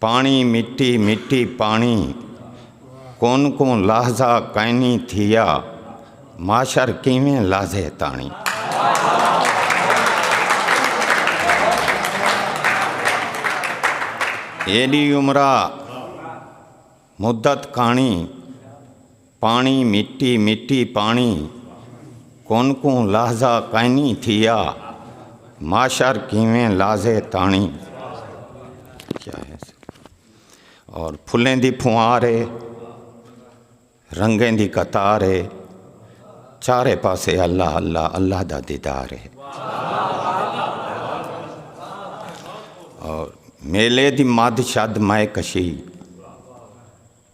پاݨی مٹی مٹی پاݨی کون کوں لہذا کائنی تھیا معاشر کیویں لہذے تاݨی۔ ایݙی عمرا مدت کاݨی پاݨی مٹی مٹی پاݨی کون کوں لہذا کائنی تھیا معاشر کیویں لازے تاݨی کیا ہے اور پھلیں دی پھوار ہے رنگیں دی قطار ہے چارے پاسے اللہ اللہ اللہ دا دیدار ہے اور میلے دی مد شد مائے کشی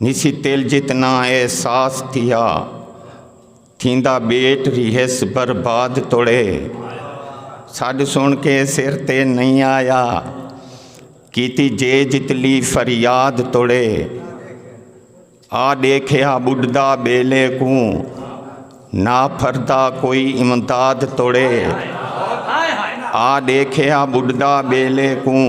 نسی تیل جتنا اے ساس تھیا تھیندا بیٹ ریہس برباد توڑے سڈ سن کے سر تے نہیں آیا کیتی جے جتلی فریاد توڑے آ ڈیکھیا بڈھدا بیلے کوں نا پھردا کوئی امداد توڑے آ ڈیکھیا بڈھدا بیلے کوں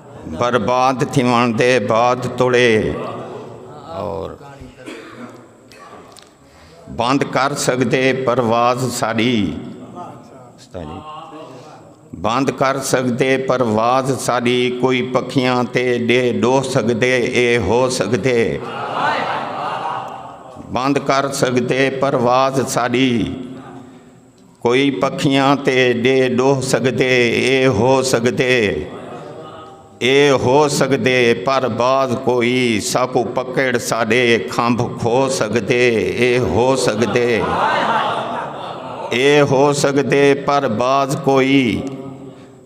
برباد تھیوݨ دے بعد توڑے اور بند کر سکدے پرواز ساری بند کر سکدے پرواز ساری کوئی پکھیاں تے ڈے ڈو سکدے اے ہو سکدے بند کر سکدے پرواز ساری کوئی پکھیاں تے ڈے ڈوہ سگدے اے ہو سگدے اے ہو سگدے پر باز کوئی ساکوں پکڑ ساڈے کھمب کھو سگدے اے ہو سگدے اے ہو سگدے پر باز کوئی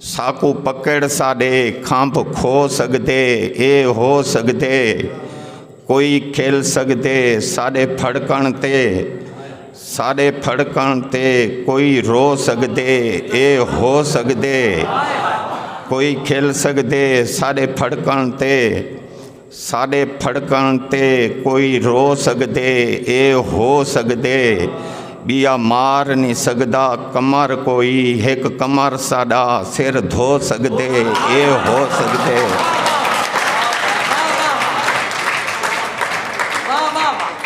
ساکوں پکڑ ساڈے کھمب کھو سگدے اے ہو سگدے کوئی کھل سگدے ساڈے پھڑکن تے ساڈے پھڑکن تے کوئی رو سگدے اے ہو سگدے کوئی کھل سگدے ساڈے پھڑکن تے ساݙے پھڑکݨ تے کوئی رو سڳدے اے ہو سڳدے ٻیا مار نی سڳدا کمر کوئی ہک کمر ساݙا سر دھو سڳدے اے ہو سڳدے۔